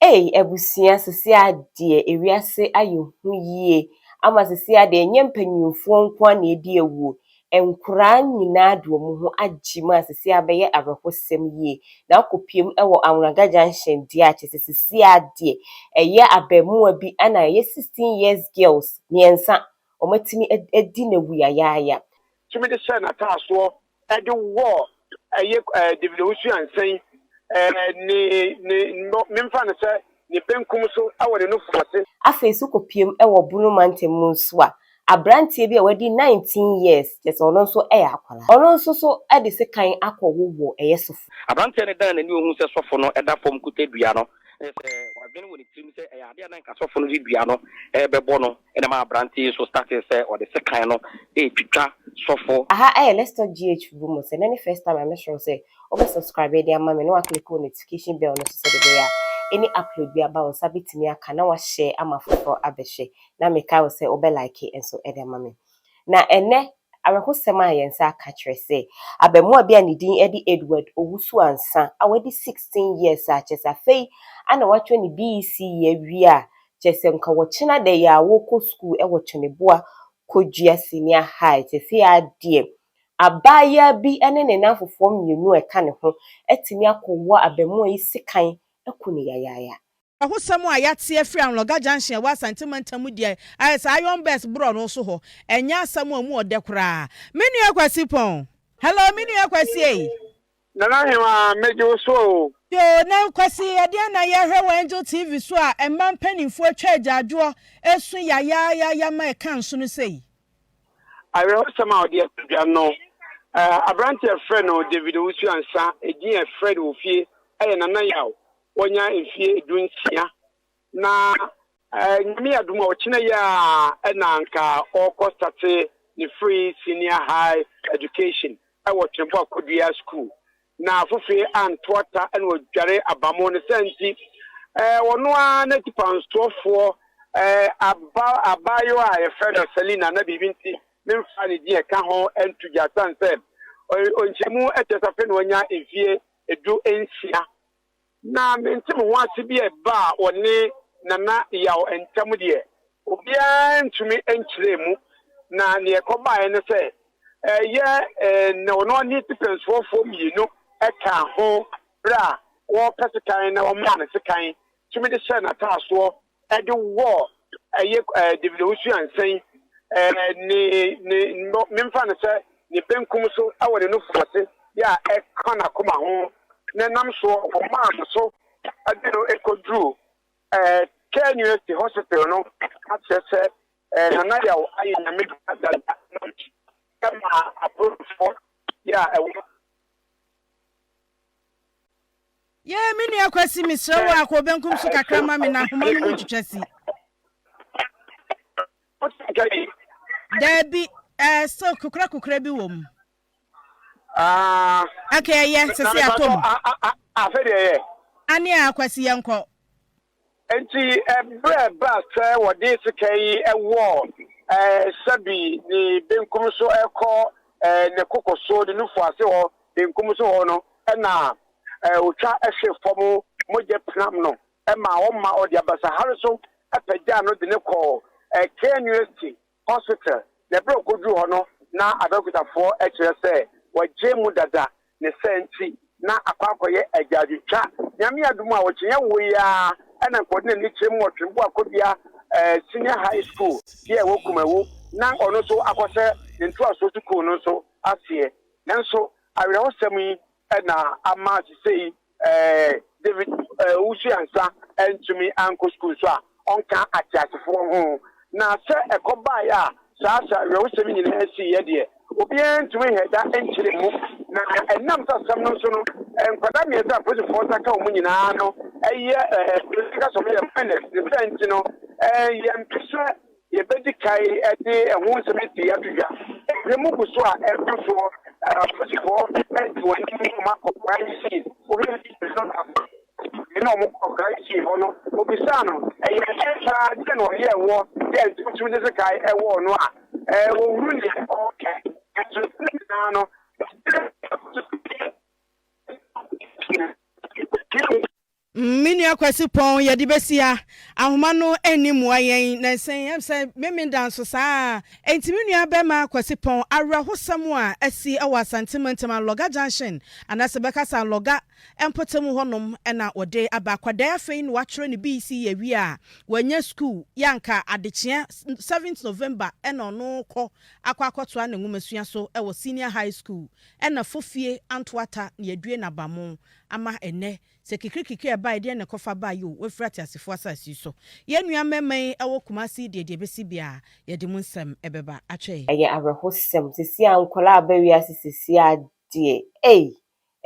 Ei abusua sisi a deɛ ewiase ayɛ hu yie ama sisi a deɛ ɛnyɛ mpanyinfoɔ nko ara na edi awuo nkoraa nyinaa de wɔn ho agye mu a sisi a abɛyɛ awerɛhosɛm yie na akɔpiem wɔ Awnaga junction deɛ a kyesɛ sisi a deɛ ɛyɛ abɛɛmoa bi na ɛyɛ sixteen years girls mmiɛnsa wɔn atumi adi na awu yayaaya. Tumi de hyɛɛ n'ataasoɔ de wɔ ɛyɛ ɛɛ David Owusu Ansan ɛɛ ne ne no memfa no sɛ ne benkum so wɔ ne nufo ase. Afei nso kɔpuem wɔ Bono mantam mu nso a, aberanteɛ bi a wadi 19 years, kyerɛ sɛ ɔno nso yɛ akwadaa, ɔno nso so de sekan akɔ wo wɔ ɛyɛ sofo. Aberanteɛ no dan n'ani ɔhu sɛ sɔfo no da fam kuta dua no, kyerɛ sɛ wadwene wɔ ne tirim sɛ ɛyɛ adeɛ a na nka sɔfo no de dua no rebɛbɔ no. Ɛna maa aberante yi nso startee sɛ ɔde sekan no retwitwa sɔfo. Aha ɛyɛ let's talk GH fufu mu sɛ nɛ ne first time a mɛ srɛw sɛ wo bɛ subscribe de ama me na wa click wo notification bell no so sɛde ɛbɛyɛ a any upload bi aba wo nsa bɛ tumi aka na wa share ama foforɔ abɛ hwɛ na me kae wo sɛ wo bɛ like nso de ama me na ɛnɛ Awerɛhosɛm a yɛn nsa aka kyerɛ sɛ abaamua bi a ne din de Edward Owusu Ansah a wadi 16 years a kyerɛ sɛ afei na watwa ne BECE awie a kyerɛ sɛ nka wɔkyena da yi ara wɔrekɔ sukuu wɔ Kyɔniboa Kodua Senior High. Seesei ara deɛ abaayaa bi ne ne nnamfofoɔ mmienu a ɛka ne ho atumi akɔwɔ abaamua yi sekan aku no yayaaya. Ahosɛm a yɛate afiri Anloga Junction a ɛwɔ Asante Mantam mu deɛ ayɛ saa Iron Bus borɔno so hɔ. Ɛnyɛ asɛm a ɛmu wɔ dɛ koraa. Me nua Kwasi Pɔn. Hello, me nua Kwasi ei. Nana Hemaa, megye wo so o. Yoo, na Kwasi, ɛdeɛn na yɛhwɛ wɔ Angel TV so a mmaa mpaninfoɔ atwa agyaadwoɔ ɛsu yayaayaya ma ɛka nsono sei? Awerɛhosɛm a ɔde ato dwa no, aberanteɛ a yɛfrɛ no David Owusu-Ansah, edin a yɛfrɛ no wɔ fie yɛ Nana Yaw, Wanya mfie du nsia na Nyame adom a ɔkyena yi a na anka ɔkɔ state ne free senior high education wɔ Twembo Akodua school na afofee anto ata na ɔdware abamo ne sɛ nti ɔno a na tipansoɔfoɔ aba abaayewa a yɛfrɛ no Selina na biribi nti memfa ne din ɛka ho nto gya sane sɛ ɔnkyɛmu ɛkyɛ safe na ɔnya mfie edu nsia Na mente me ho ase bi a ɛbaa ɔne Nana Yaw ntam deɛ, obiara antumi ankyerɛ mu, na deɛ ɛkɔbaeɛ ne sɛ, ɛyɛ na ɔne ɔne Tipɛnsfoɔfoɔ mmienu kaa ho berɛ a wɔrepɛ sekan na wɔmaa no sekan tumi de hyɛɛ n'ataasoɔ de wɔ ɛyɛ David Owusu Ansan ne ne no memfa no sɛ ne benkum so wɔ ne nufu ase yɛ a ɛka n'akoma ho na nam soɔ wɔmaa no so de no kɔduru KNUST hospital no akyerɛ sɛ Nana Yaw ayɛ nyame dada ɛma apolisifoɔ yɛ a ɛwɔ Yee me nua Kwasi mesrɛ wo a kɔ benkum so kakra ma me na ahoma no mu ntwitwa si. Daabi, eh, still kukura kukura bi wɔ mu. Ah. Okay, ɛyɛ, sɛ sɛ atom. Afɛ deɛ ɛyɛ. Ane a Kwasi yɛnkɔ. Enti berɛ baa sɛ wɔde sika yi wɔ Sabi ne benkum so kɔ ne koko so, ne nufu ase hɔ benkum so hɔ no, ɛna ɔtwa hwe fam mogya pinam no ma ɔma ɔde abasahare so pagyaa no de no kɔɔ Kane University Hospital, na bere a okoduu hɔ no na Abeokutafo kyerɛ sɛ wɔagyae mu dada, ne saa nti na akɔ akɔyɛ agyaadwotwa. Nyame adom a, ɔkyenyɛ woi ara na nka ɔde n'ani kyerɛ mu wɔ Twembo Akobea Senior High School bi a ɛwɔ Kumawu na ɔno nso akɔhyɛ ne ntoasoɔ sukuu no nso aseɛ. Nanso awerɛhosɛm yi na ama sesei Eh, David, eh, wosua nsa antumi ankɔ sukuu nso a, ɔnka ateasefoɔ ho. Na sɛ ɛkɔbaeɛ a saa sɛ awerɛhosɛm nyinaa siiɛ deɛ, obiara ntumi nhɛ da nkyerɛ mu. Na ɛnam sɛ asɛm no nso no, eh, nkwadaa mmiɛnsa a polisifoɔ nsa ka wɔn nyinaa no yɛ, eh, polisi ka sɛ wɔyɛ minors, ne saa nti no, eh, yɛmpɛ sɛ Yɛbɛdi kan de ɛho nsɛm pii ato dwa. Wiram gu so a ɛrekɔ soɔ, apolisifoɔ de wɔn anim wɔn akɔ crime scene. Wohwɛ video no baako a, na wɔkɔ crime scene hɔ no, wɔbisaa no, ɛyɛ ɛdeɛn paa, deɛ na ɔyɛ ɛwoɔ, deɛ nti wotumi de sekan ɛwɔ ɔno a, wɔhunu deɛ ɔreka. Nanso ne nyinaa no, Mm me nua Kwasi Pɔn yɛde bɛsi ha ahoma no nni mmoa yɛn nansa yi ɛm sɛ Memen da nso saa enti me nua bɛma Kwasi Pɔn awerɛhosɛm a asi wɔ Asante mantam Alɔga Junction anaasɛ bɛka sɛ Alɔga mpɔtam hɔ nom na ɔde aba akwadaa yi afei na watwerɛ ne BECE awie a wanya sukuu yɛ anka adekyeɛ 7th November na ɔno rekɔ akɔ akɔtoa ne nwomasua so wɔ Senior High School ɛna fofie Antoata na yɛadue n'abamo ama ɛnnɛ Sɛ kikirikikiri a ɛbae deɛn na ɛkɔfa bae yoo wafiri ateasefoɔ asase yi so. Yɛn nua mmarima yi wɔ Kumasi yi deɛ deɛ ɛbɛsi biara yɛde mo nsɛm bɛba akyɛ yɛn. Ɛyɛ awerɛhosɛm sesie a nkwadaa aba wiase sesie a deɛ ei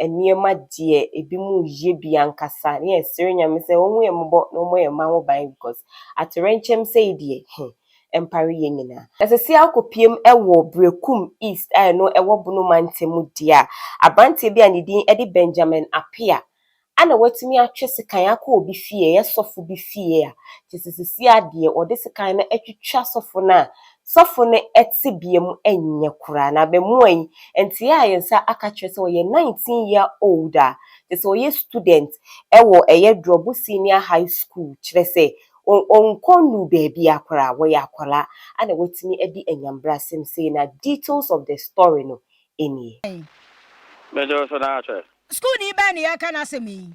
nneɛma deɛ ebinom yɛ bi ankasa ne yɛsere Nyame sɛ ɔnhu yɛn mmɔbɔ na ɔmmɔ yɛn mma ho ban because atoyerɛnkyɛm sɛi deɛ heh mpare yɛn nyinaa. Ɛsɛsɛa kɔpiem wɔ Berekum East a ɛno ɛwɔ Bono mantam mu deɛ a, aberanteɛ bi a ne din de Benjamin Appiah a na watumi atwe sekan akɔ obi fie, ɛyɛ sɔfo bi fie a, kyerɛ sɛ sesia deɛ ɔde sekan no atwitwa sɔfo no a sɔfo no tebea mu nyɛ koraa na abamua yi nteɛ a yɛn nsa aka kyerɛ sɛ ɔyɛ 19 year old a kyerɛ sɛ ɔyɛ student wɔ ɛyɛ Drɔbo Senior High School kyerɛ sɛ Wɔ wɔnkɔ nnuu baabiaa koraa, wɔyɛ akwadaa a na wɔatumi adi anyambrasɛm sei na details of the story no nie. Mede wo so na ahwɛ. Sukuuni bɛn na yɛreka n'asɛm yi?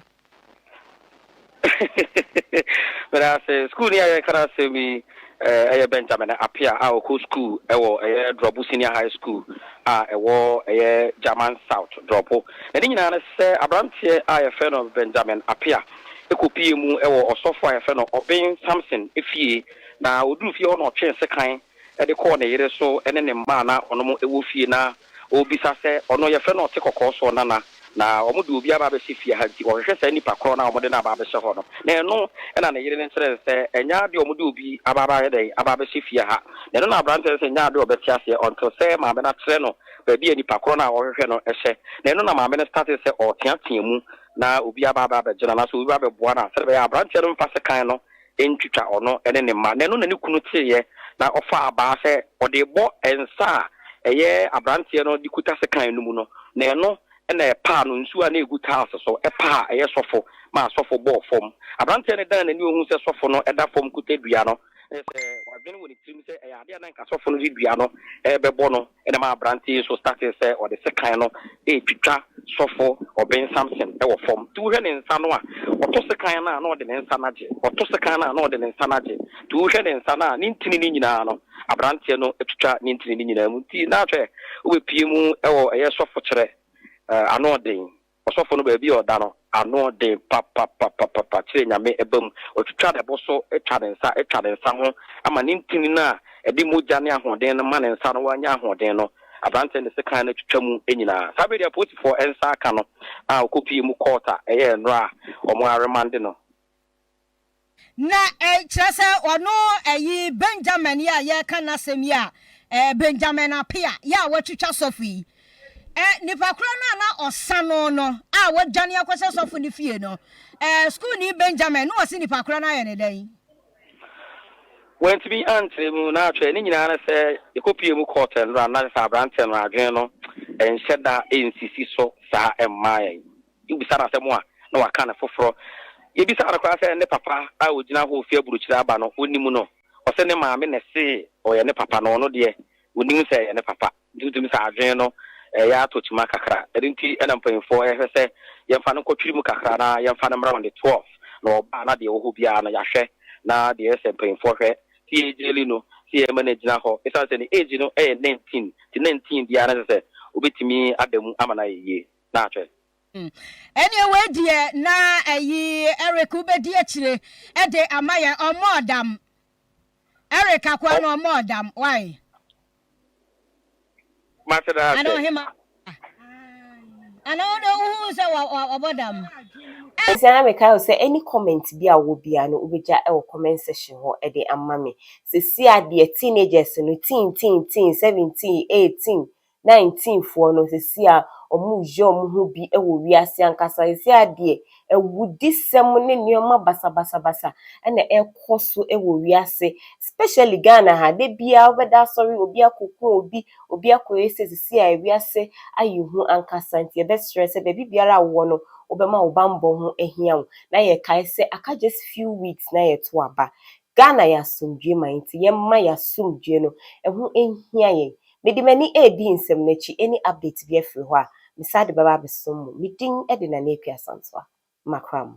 Meda ase. Sukuuni a yɛreka n'asɛm yi yɛ Benjamin Appiah a ɔkɔ sukuu wɔ ɛyɛ Drɔbo Senior High School a ɛwɔ ɛyɛ German South, Drɔbo. N'ani nyinaa ne sɛ aberanteɛ a yɛfrɛ no Benjamin Appiah. kɔpuee mu wɔ ɔsɔfoɔ a yɛfrɛ no Ɔben Samson fie, na ɔduruu fie hɔ na ɔtwee sekan de kɔɔ ne yere so ne ne mma a na wɔnom wɔ fie, na ɔrebisa sɛ ɔno yɛfrɛ no Ɔtekɔkɔɔ soɔ nana, na wɔde obi aba abɛhyɛ fie ha, nti ɔhwehwɛ saa nipa korɔ no a wɔde no aba abɛhyɛ hɔ no, na ɛno na ne yere no kyerɛɛ no sɛ ɛnyɛ adeɛ a wɔde obi aba abayɛ dɛn, aba abɛhyɛ fie ha, na ɛno na aberanteɛ no sɛ ɛnyɛ adeɛ a ɔbɛte aseɛ until sɛ maame no akyerɛ no baabi a nipa korɔ no a ɔrehwehwɛ no hyɛ, na ɛno na maame no startee sɛ ɔreteatea mu. na obi aba abɛ abɛgye no anaasɛ obi ba abɛboa no a, sɛdeɛ ɛbɛyɛ a aberanteɛ no remfa sekan no ntwitwa ɔno ne ne mma. Na ɛno na ne kunu teeɛ, na ɔfaa abaa sɛ ɔde rebɔ nsa a ɛyɛ aberanteɛ no de kuta sekan no mu no, na ɛno na ɛpaa no nsuo a na ɛgu tiles so, ɛpaa a ɛyɛ sɔfo maa sɔfo bɔɔ fam. Aberanteɛ no dan n'ani ɔhuu sɛ sɔfo no da fam kuta dua no. Ɛsɛ sɛ wadwene wɔ ne tirim sɛ ɛyɛ ade a na nka sɔfo no de dua no rebɛbɔ no. Ɛna ɛmaa aberante yi nso startee sɛ ɔde sekan no retwitwa sɔfo Ɔben Sampson wɔ fam. Nti wohwɛ ne nsa no a, ɔto sekan no a, na ɔde ne nsa no agye. Ɔto sekan no a, na ɔde ne nsa no agye. Nti wohwɛ ne nsa no a, ne ntini no nyinaa no, aberanteɛ no atwitwa ne ntini no nyinaa mu. Nti na hwɛ, wobɛpue mu wɔ ɛyɛ sɔfokyerɛ anoɔden. Ɔsɔfo no baabi a ɔda no ano den papapapapa kyerɛ Nyame ba mu. Otwitwa ne bo so twa ne nsa twa ne nsa ho ma ne ntini no a ɛde mogya ne ahoɔden no ma ne nsa no wanya ahoɔden no. Aberante no de sekan no twitwa mu nyinaa. Saa bere de apolisifo nsa aka no a okopue mu kɔɔta yɛɛ nnora a wɔaremande no. Na kyerɛ sɛ ɔno ɛyi Benjamin yi a yɛreka n'asɛm yi a ɛɛ Benjamin Apea yɛ a wɔatwitwa sɔfo yi ɛ nipa korɔ no a na ɔsa no no a wɔdwane akɔhyɛ sɔfo no fie no ɛɛ sukuuni Benjamin na ɔsi nipa korɔ no ayɛ ne dɛn. Wantumi ankyerɛ mu na atwerɛ ne nyinaa ne sɛ yɛkɔpie mu kɔɔ tɛnora no na kyerɛ sɛ aberanteɛ no adwene no ɛnhyɛ da ɛnsisi so saa ɛmmaa yɛn. Wobisa no asɛm a, na waka no foforɔ. Yɛbisaa no koraa sɛ ne papa a ɔgyina hɔ ɔfiri aburokyire aba no, ɔnim no. Ɔse ne maame na ɛsee ɔyɛ ne papa no, ɔno deɛ ɔnim sɛ ɛyɛ ne papa. Nti wotumi sɛ adwene no reyɛ atɔ kyima kakra. Ɛno nti na mpaninfoɔ rehwɛ sɛ yɛmfa no nkɔtwiri mu kakra na yɛmfa no mmra on the 12th. Na ɔba a na deɛ ɛwɔ hɔ biara no yɛahwɛ na deɛ ɛyɛ sɛ mpaninfoɔ hwɛ. Sɛ yɛ gyeli no, sɛ yɛma no agyina hɔ. Ɛsiane sɛ ne age no yɛ 19 nti 19 biara no ɛsɛ sɛ ɔbɛtumi ada mu ama no ayɛ yie. na ahwɛ. Hmm. Ɛneɛ wei deɛ na ayi Eric wobɛdi akyire ɛde ama yɛ ɔmɔ ɔdam. Eric akoa no ɔmɔ ɔdam. Why? Mate da ase. Ana ɔhema. Ana ɔdɔ wohu sɛ ɔbɔ dam. Ɛsɛ na mekae wo sɛ any comment bi a wɔ biara no wobɛgya wɔ comment section hɔ de ama me. Sesia deɛ teenagers no teen teen teen 17, 18, na ntinfoɔ no seesei a wɔreyɛ wɔn ho bi wɔ wiase ankasa, seesei ara deɛ awudisɛm ne nneɛma basabasabasa na ɛrekɔ so wɔ wiase, especially Ghana ha, da biara wobɛda asɔre obi akɔku obi, obi akɔyɛ sei, seesei a wiase ayɛ hu ankasa nti yɛbɛsrɛ sɛ baabi biara a wowɔ no wobɛma wo bammɔ ho ahia wo na yɛkae sɛ aka just few weeks na yɛto aba. Ghana yɛ asomdwoeɛ man nti yɛmma yɛn asomdwoeɛ no, ɛho hia yɛn, Mede m'ani redi nsɛm no akyi any update biara firi hɔ a, mesan de bɛba abɛsom mo. Me din de Nana Akua Sansoa. Makra mo.